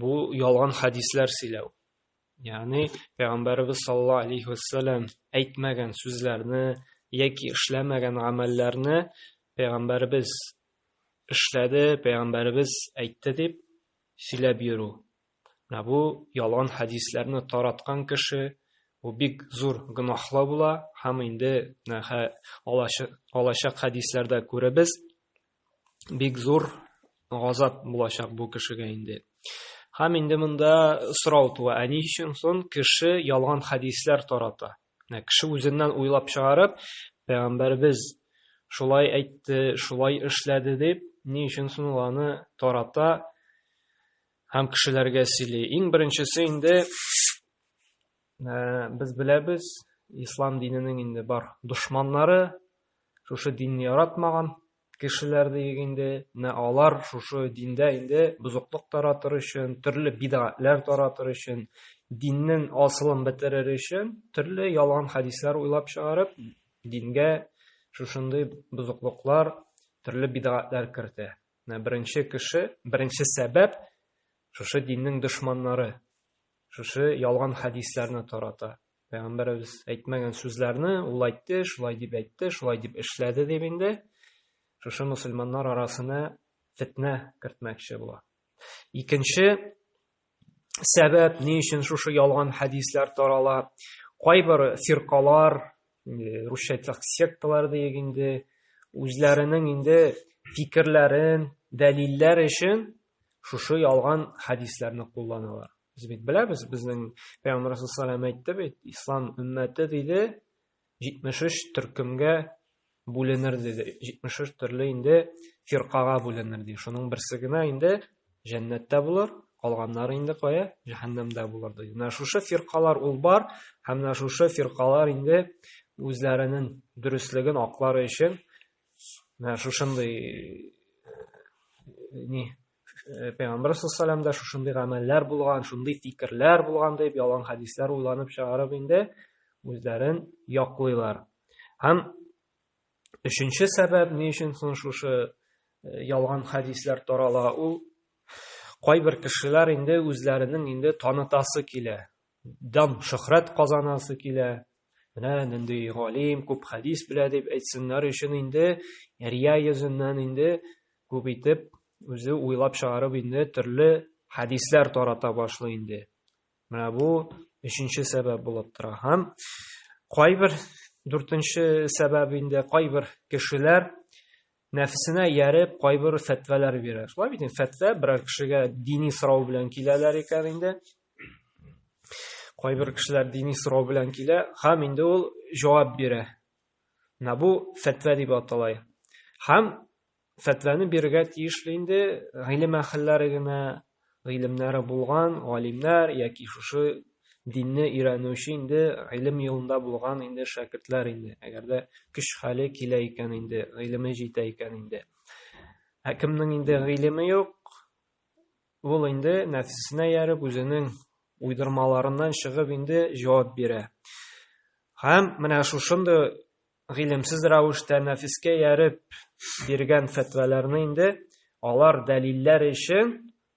Бу ялган хәдисләр сөйләү. Ягъни пәйгамбәрбез саллаллаһу алейхи ва саллям әйтмәгән сүзләрне яки эшләмәгән гамәлләрне пәйгамбәрбез эшләде, пәйгамбәрбез әйтте дип сөйләп йөрү. Менә бу ялган хәдисләрне тараткан кеше бу бик зур гөнаһлы була һәм инде алачак хәдисләрдә күребез, бик зур газап булачак бу кешегә инде. Һәм инде монда сорау туа, ә ни өчен сон кеше ялган хәдисләр тарата? Менә кеше үзеннән уйлап чыгарып, пәйгамбәрбез шулай әйтте, шулай эшләде дип, ни өчен сон аны тарата һәм кешеләргә сөйли. Иң беренчесе инде ә, без беләбез, ислам диненең инде бар дошманнары, шушы динне яратмаган кешеләр диек инде, менә алар шушы диндә инде бозыклык таратыр өчен, төрле бидгатләр таратыр өчен, диннең асылын бетерер өчен төрле ялган хәдисләр уйлап чыгарып, дингә шушындый бозыклыклар, төрле бидгатләр кертә. Менә беренче кеше, беренче сәбәп шушы диннең дошманнары, шушы ялган хәдисләрне тарата. Пәйгамбәребез әйтмәгән сүзләрне ул әйтте, шулай дип әйтте, шулай дип эшләде дип инде шушы мусульманнар арасына фетнә кертмәкче була. Икенче сәбәп, ни өчен шушы ялган хәдисләр тарала? Кайбер фиркалар, русча әйтсәк, секталар диек инде, үзләренең инде фикерләрен дәлилләр өчен шушы ялган хәдисләрне кулланалар. Без бит беләбез, безнең Пәйгамбәр Расулсалам әйтте бит, ислам өммәте диде 73 төркемгә бүленер диде. 73 төрле инде фиркага бүленер ди. Шуның берсе генә инде җәннәттә булыр, калганнары инде кая? Җәһәннәмдә булыр ди. Менә шушы фиркалар ул бар, һәм менә шушы фиркалар инде үзләренең дөреслеген аклары өчен менә шушындый э, ни Э, пәйгамбәр саллаллаху да шушындый гамәлләр булган шундый фикерләр булган дип ялган хәдисләр уйланып чыгарып инде үзләрен яклыйлар һәм өченче сәбәп ни өчен соң шушы э, ялган хәдисләр тарала ул кайбер кешеләр инде үзләренең инде танытасы килә дан шөхрәт казанасы килә менә нинди галим күп хәдис белә дип әйтсеннәр өчен инде рия йөзеннән инде күп итеп үзе уйлап чыгарып инде төрле хәдисләр тарата башлый инде менә бу өченче сәбәп булып тора һәм кайбер дүртенче сәбәп инде кайбер кешеләр нәфесенә ияреп кайбер фәтвәләр бирә. Шулай бит инде фәтвә берәр кешегә дини сорау белән киләләр икән инде. Кайбер кешеләр дини сорау белән килә, һәм инде ул җавап бирә. Менә бу фәтвә дип атала. Һәм фәтвәне бирергә тиешле инде гыйлем әһелләре генә, гыйлемнәре булган галимнәр яки шушы динне өйрәнүче инде гыйлем юлында булган инде шәкертләр инде әгәр дә көч хәле килә икән инде гыйлеме җитә икән инде ә кемнең инде гыйлеме юк ул инде нәфсесенә ярып үзенең уйдырмаларыннан чыгып инде җавап бирә һәм менә шушындый гыйлемсез рәвештә нәфескә ярып биргән фәтваларны инде алар дәлилләр өчен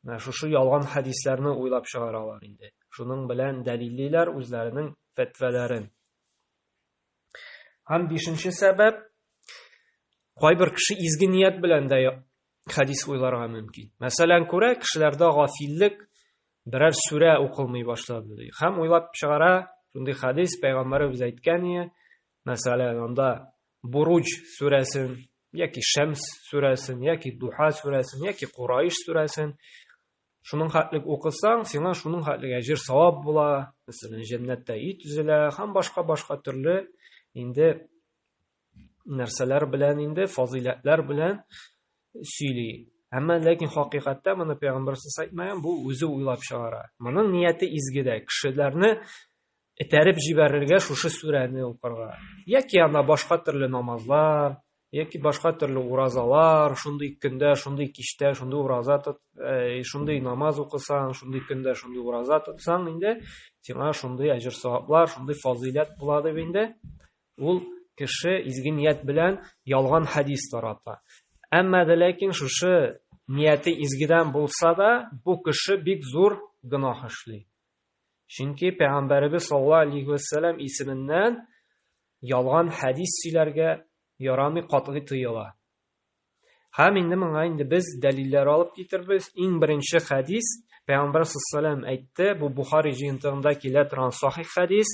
менә шушы ялган хәдисләрне уйлап чыгаралар инде. Шуның белән дәлиллиләр үзләренең фәтваларын. Һәм бишенче сәбәп кайбер кеше изге ният белән дә хәдис уйларга мөмкин. Мәсәлән, күрә кешеләрдә гафиллек берәр сүрә укылмый башлады ди. Хәм уйлап чыгара, шундый хәдис пәйгамбәребез әйткән ие. Мәсәлән, анда Буруҗ сүрәсен, яки Шәмс сүрәсен, яки Духа сүрәсен, яки Курайш сүрәсен шуның хәтлек укысаң, сиңа шуның хәтлек әҗер савап була. Мәсәлән, җәннәттә ит үзелә һәм башка-башка төрле инде нәрсәләр белән инде фазыйләтләр белән сөйли әмма ләкин хакыйкатьтә моны пәйгамбәр әйтмәгән бу үзе уйлап чыгара моның нияте изге дә кешеләрне этәреп җибәрергә шушы сүрәне укырга яки ана башка төрле намазлар яки башка төрле уразалар шундый көндә шундый кичтә шундый ураза тот э, шундый намаз укысаң шундый көндә шундый ураза тотсаң инде сиңа шундый әҗер саваплар шундый фазыйләт була дип инде Ул кеше изге ният белән ялган хадис тарата. Әмма дә ләкин шушы нияте изгедән булса да, бу кеше бик зур гөнаһ эшли. Чөнки пәйгамбәребез саллаллаһу алейхи ва саллям исеменнән ялган хадис сөйләргә ярамый катгый тыела. Һәм инде моңа инде без дәлилләр алып китербез. Иң беренче хадис пәйгамбәр саллаллаһу әйтте, бу Бухари җыентыгында килә торган сахих хадис.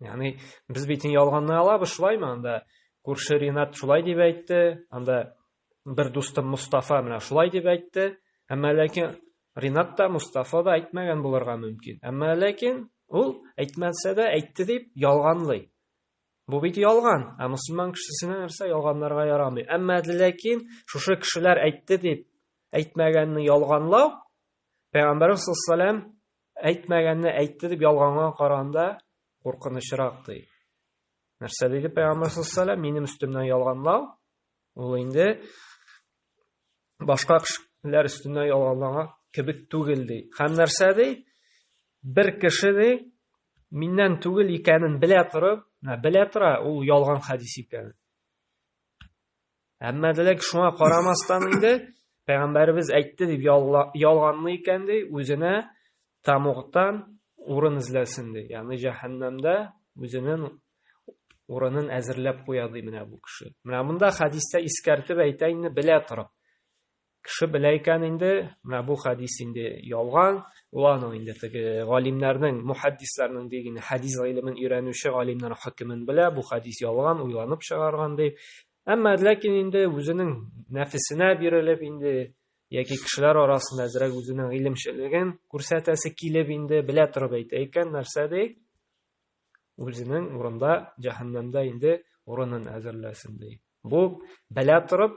Яни без бит ялганны алабыз шулаймы анда? Күрше Ринат шулай дип әйтте, анда бер дустым Мустафа менә шулай дип әйтте. Әмма ләкин Ринат та Мустафа да әйтмәгән булырга мөмкин. Әмма ләкин ул әйтмәсә дә әйтте дип ялганлый. Бу бит ялган. Ә мусульман кешесенә нәрсә ялганларга ярамый. Әмма ләкин шушы кешеләр әйтте дип әйтмәгәнне ялганлау Пәйгамбәрбез саллаллаһу Әйтмәгәнне әйтте дип ялганга караганда куркынычрак ди. Нәрсә диде Пәйгамбәр саллаллаһу минем өстемнән ялганлау, ул инде башка кешеләр өстенә ялганлага кебек түгел ди. Һәм нәрсә ди? Бер кеше ди, миннән түгел икәнен белә торып, менә белә тора, ул ялган хадис икән. Әмма дилек шуңа карамастан инде пәйгамбәребез әйтте дип ялганлы икән ди, үзенә тамугтан урын эзләсен ди. Ягъни җәһәннәмдә үзенең урынын әзерләп куя ди менә бу кеше. Менә монда хәдистә искәртеп әйтә инде белә торып. Кеше белә икән инде, менә бу хәдис инде ялган, ул аның инде теге галимнәрнең, мухаддисларның дигән хәдис гыйлемен өйрәнүче галимнәр хөкемен белә, бу хәдис ялган, уйланып чыгарган дип. Әмма ләкин инде үзенең нәфесенә бирелеп инде яки кешеләр арасында әзрәк үзенең гыйлемчелеген күрсәтәсе килеп инде белә торып әйтә икән, нәрсә ди? Үзенең урында җәһәннәмдә инде урынын әзерләсен ди. Бу белә торып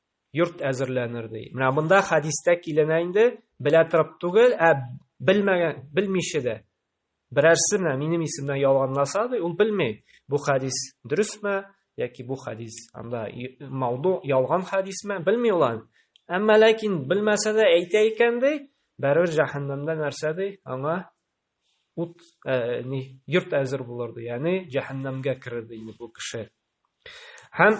йорт әзерләнер ди. Менә монда хәдистә киленә инде, белә торып түгел, ә белмәгән, белмичә дә. Берәрсе менә минем исемнән ялганласа ди, ул белми. Бу хәдис дөресме яки бу хәдис анда мауду ялган хәдисме, белми ул аны. Әмма ләкин белмәсә дә әйтә икән ди, бәрер җәһәннәмдә нәрсә ди? Аңа ут, э, ни, йорт әзер булыр ди. Ягъни җәһәннәмгә керер ди бу кеше. Һәм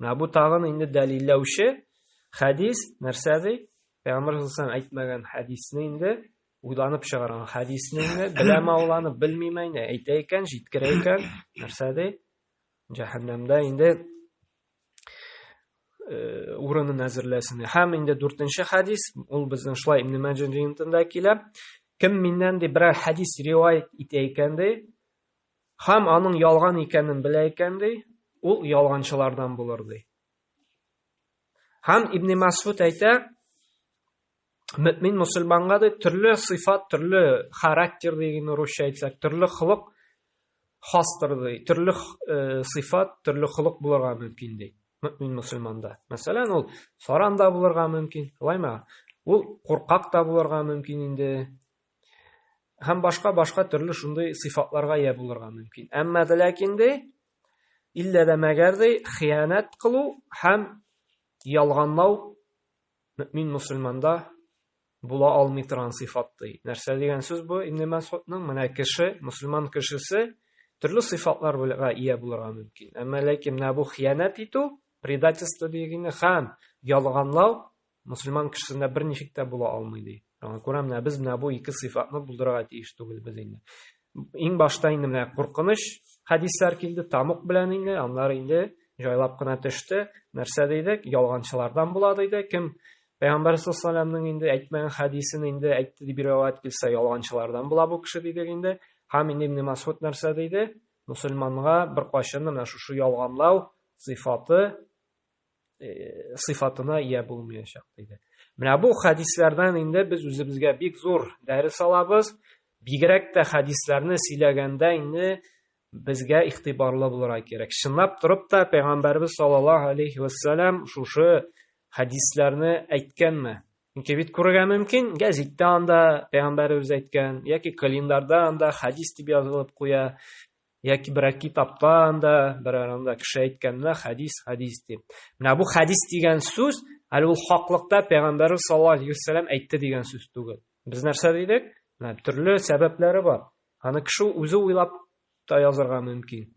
Менә бу тагын инде дәлилләүче хәдис, нәрсә ди? Пәйгамбер саллаллаху әйтмәгән хәдисне инде уйланып чыгарган хәдисне инде беләме ул аны, белмиме инде, әйтә икән, җиткерә икән, нәрсә ди? Җәһәннәмдә инде э, урынын әзерләсен. Һәм инде дүртенче хәдис, ул безнең шулай Ибн Мәҗин җыентында килә. Кем миннән ди берәр хәдис риваять итә икән ди, Хәм аның ялган икәнен белә икән ди, ул ялганчылардан булыр ди. Хәм Ибн Масфут әйтә, мөмин мусульманга ди төрле сыйфат, төрле характер дигән русча әйтсәк, төрле хылык хастыр ди, төрле э, сыйфат, төрле хылык булырга мөмкин ди. Мөмин мусульманда. Мәсәлән, ул саран да булырга мөмкин, лайма. Ул куркак та булырга мөмкин инде, һәм башка башка төрле шундый сыйфатларга ия булырга мөмкин. Әмма дә ләкин ди, иллә дә мәгәр ди, хыянәт кылу һәм ялганлау мөмин мусульманда була алмый торган сыйфат ди. Нәрсә дигән сүз бу? Ибн Мәсудның менә кеше, мусульман кешесе төрле сыйфатлар белән ия булырга мөмкин. Әмма ләкин менә бу хыянәт итү, предательство дигәне һәм ялганлау Мөселман кешесендә берничек тә була алмый ди. Аңа күрә менә без менә бу ике сыйфатны булдырырга тиеш түгелбез инде. Иң башта инде менә куркыныч хәдисләр килде, тамук белән инде, аннары инде җайлап кына төште. Нәрсә дидек? Ялганчылардан була диде. Кем Пәйгамбәр саллаллаһу инде әйтмәгән хәдисен инде әйтте дип риваять килсә, ялганчылардан була бу кеше дидек инде. Һәм инде Ибн Масуд нәрсә диде? Мусульманга бер кайчан менә шушы ялганлау сыйфаты э, сыйфатына ия булмаячак диде менә бу хәдисләрдән инде без үзебезгә бик зур дәрес алабыз бигрәк тә хәдисләрне сөйләгәндә инде безгә игътибарлы булырга кирәк чынлап торып та пәйгамбәрбез саллаллаху алейхи вассалам шушы хәдисләрне әйткәнме чөнки бит күрергә мөмкин гәзиттә анда пәйгамбәребез әйткән яки календарьда анда хәдис дип язылып куя Яки берәр китапта анда, берәр анда кеше әйткәндә хәдис, хәдис дип. Менә бу хәдис дигән сүз, әле ул хаклыкта пәйгамбәрбез саллаллаһу алейхи вәсәлам әйтте дигән сүз түгел. Без нәрсә дидек? Менә төрле сәбәпләре бар. Аны кеше үзе уйлап та язырга мөмкин.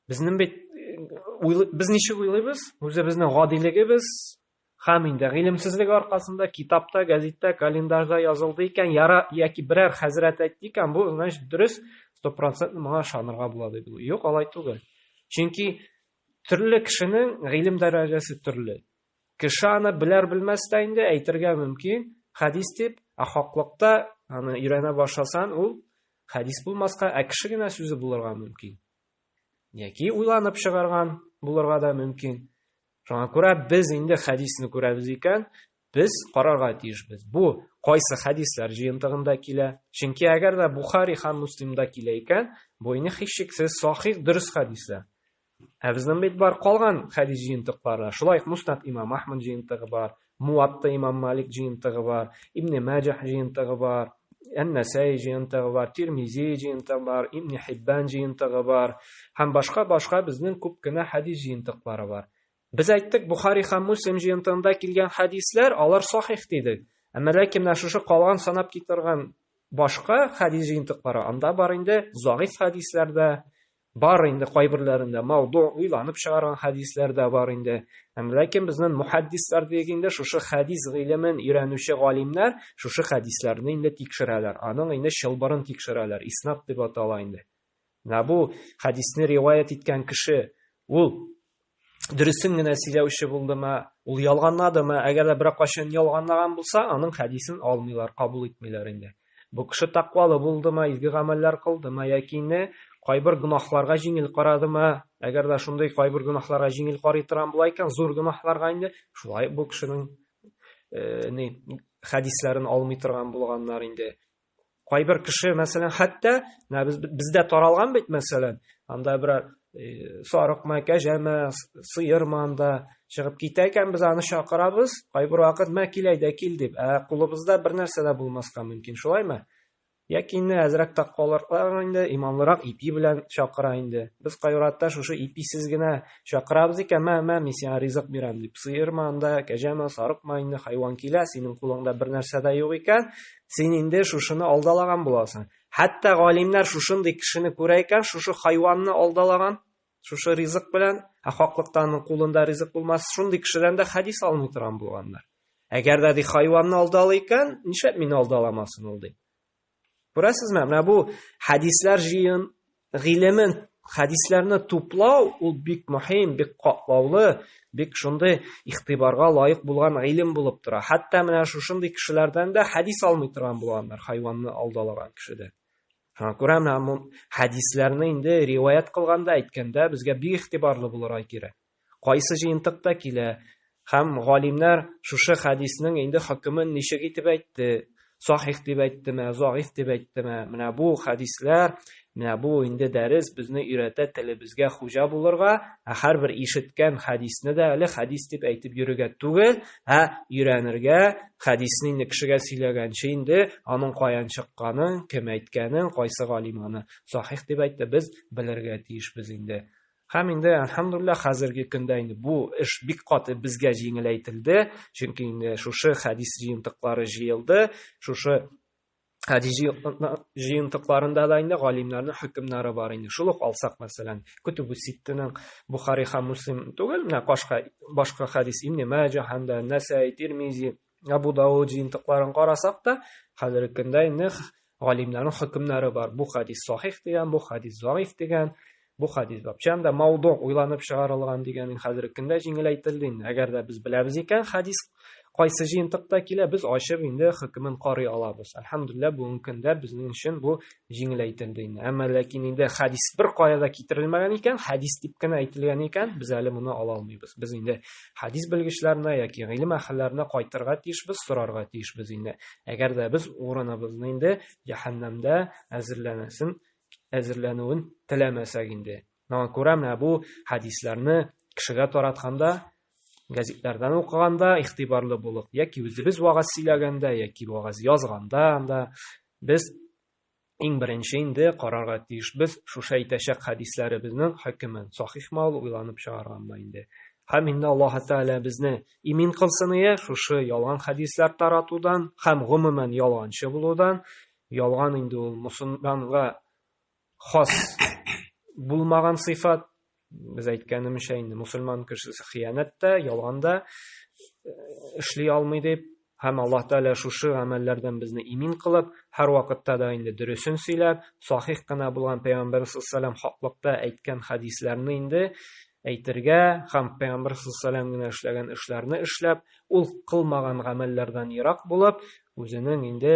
Безнең бит э, без ничек уйлыйбыз? Үзебезнең гадилегебез, Һәм инде, гыйлемсезлеге аркасында, китапта, гәзиттә, календарьда язылды икән, яра, яки берәр хәзрәт әйтте икән, бу, значит, дөрес, стопроцентно моңа ышанырга була, диде ул. Юк, алай түгел. Чөнки төрле кешенең гыйлем дәрәҗәсе төрле. Кеше аны беләр-белмәс тә инде әйтергә мөмкин, хәдис дип, ә хаклыкта аны өйрәнә башласаң, ул хәдис булмаска, ә кеше генә сүзе булырга мөмкин. Яки уйланып чыгарган булырга да мөмкин. Шуңа күрә без инде хәдисне күрәбез икән, без карарга тиешбез. Бу кайсы хәдисләр җыентыгында килә? Чөнки әгәр дә Бухари һәм Муслимда килә икән, бу инде һичшиксез сахих дөрес хәдисләр. Ә безнең бит бар калган хәдис җыентыклары. Шулай ук Муснат имам Ахмад җыентыгы бар, Муатта имам Малик җыентыгы бар, Ибне Мәҗәһ җыентыгы бар, Ән-Нәсәи җыентыгы бар, Тирмизи җыентыгы бар, Ибне Хиббан җыентыгы бар һәм башка-башка безнең күп кенә хәдис җыентыклары бар. Без әйттек, Бухари һәм Муслим җыентыгында килгән хәдисләр, алар сахих дидек. Әмма ләкин менә шушы калган санап китерген башка хәдис җыентыклары, анда бар инде загыйф хәдисләр дә, Бар инде кайберләрендә мауду уйланып чыгарган хәдисләр дә бар инде. Әм ләкин безнен мухаддислар диек инде шушы хәдис гыйлемен өйрәнүче галимнәр шушы хәдисләрне инде тикшерәләр. Аның инде чылбырын тикшерәләр. Иснад дип атала инде. Менә бу хәдисне риваять иткән кеше ул дөресен генә сөйләүче булдымы, ул ялганнадымы? Әгәр дә бер кашын ялганлаган булса, аның хәдисен алмыйлар, кабул итмиләр инде. Бу кеше тәкъвалы булдымы, изге гамәлләр кылдымы яки инде кайбер гөнаһларга җиңел карадымы? Әгәр дә шундый кайбер гөнаһларга җиңел карый торган була икән, зур гөнаһларга инде шулай бу кешенең э, ни хәдисләрен алмый торган булганнар инде. кайбер кеше мәсәлән хәтта менә без, бездә таралган бит мәсәлән анда берәр э, сарыкмы кәҗәме сыермы анда чыгып китә икән без аны чакырабыз кайбер вакыт мә кил әйдә кил дип ә кулыбызда бер нәрсә дә булмаска мөмкин шулаймы яки инде әзрәк таквалырак инде иманлырак ипи белән чакыра инде без кайратта шушы иписез генә чакырабыз икән мә мә мин сиңа ризык бирәм дип сыермы анда кәҗәме сарыкмы инде хайван килә синең кулыңда бер нәрсә дә юк икән Син инде шушыны алдалаган буласың. Хәтта галимнәр шушындый кешене күрә икән, шушы хайванны алдалаган, шушы ризык белән, ә хаклыктан кулында ризык булмас, шундый кешедән дә хәдис алмый торган булганнар. Әгәр дә ди хайванны алдалый икән, нишләп мине алдаламасын ул ди? Күрәсезме? Менә бу хәдисләр җыен Гыйлемен, хәдисләрне туплау ул бик мөһим, бик катлаулы, бик шундый игътибарга лаек булган гыйлем булып тора. Хәтта менә шушындый кешеләрдән дә хәдис алмый торган булганнар, хайванны алдалаган кешедән. Шуңа күрә менә хәдисләрне инде риваять кылганда, әйткәндә безгә бик игътибарлы булырга кирәк. Кайсы җыентыкта килә? Һәм галимнәр шушы хәдиснең инде хөкемен ничек итеп әйтте? Сахих дип әйттеме, загыйф дип әйттеме? Менә бу хәдисләр, менә бу инде дәрес безне өйрәтә телебезгә хуҗа булырга, ә һәрбер ишеткән хәдисне дә әле хәдис дип әйтеп йөрергә түгел, ә өйрәнергә, хәдисне инде кешегә сөйләгәнче инде аның каян чыкканын, кем әйткәнен, кайсы галим аны сахих дип әйтте, без белергә тиешбез инде. Һәм инде, әлхәмдулиллаһ, хәзерге көндә инде бу эш бик каты безгә җиңеләйтелде, чөнки инде шушы хәдис җыентыклары җыелды, шушы хәдис җыентыкларында да инде галимнәрнең хөкемнәре бар инде. Шул ук алсак, мәсәлән, Көтүбү Ситтенең Бухари һәм Муслим түгел, менә башка башка хәдис Ибн Мәҗә һәм дә Нәсәи, Тирмизи, Абу Дауд җыентыкларын карасак та, хәзерге көндә инде галимнәрнең хөкемнәре бар. Бу хадис сахих дигән, бу хадис заиф дигән, бу хадис бапчан да мауду уйланып чыгарылган дигән хәзерге көндә җиңеләйтелде инде. Әгәр дә без беләбез икән, хадис кайсы җыентыкта килә, без ачып инде хөкемен карый алабыз. Әлхәмдулилла, бүгенге көндә безнең өчен бу җиңеләйтелде инде. Әмма ләкин инде хадис бер кая да китерелмәгән икән, хадис дип кенә әйтелгән икән, без әле моны ала алмыйбыз. Без инде хәдис белгечләренә яки гыйлем әһелләренә кайтырга тиешбез, сорарга тиешбез инде. Әгәр дә без урыныбызны инде җәһәннәмдә әзерләнәсен, әзерләнүен теләмәсәк инде. Моңа күрә менә бу хәдисләрне кешегә таратканда, гәзитләрдән укыганда игътибарлы булып, яки үзебез вагаз сөйләгәндә, яки вагаз язганда анда без Иң беренче инде карарга тиешбез шушы әйтәчәк хәдисләребезнең хөкемен, сахихмы ул, уйланып чыгарганмы инде. Һәм инде Аллаһы Тәгалә безне имин кылсын ие шушы ялган хәдисләр таратудан һәм гомумән ялганчы булудан. Ялган инде ул мусульманга хас булмаган сыйфат. без әйткәнемчә инде мусульман кешесе хыянәт тә ялган да э, эшли алмый дип һәм аллаһ тәала шушы гамәлләрдән безне имин кылып һәр вакытта да инде дөресен сөйләп сахих кына булган пәйгамбәр саллаллаху хаклыкта әйткән хәдисләрне инде әйтергә һәм пәйгамбәр саллаллаху генә эшләгән эшләрне эшләп ул кылмаган гамәлләрдән ерак булып үзенең инде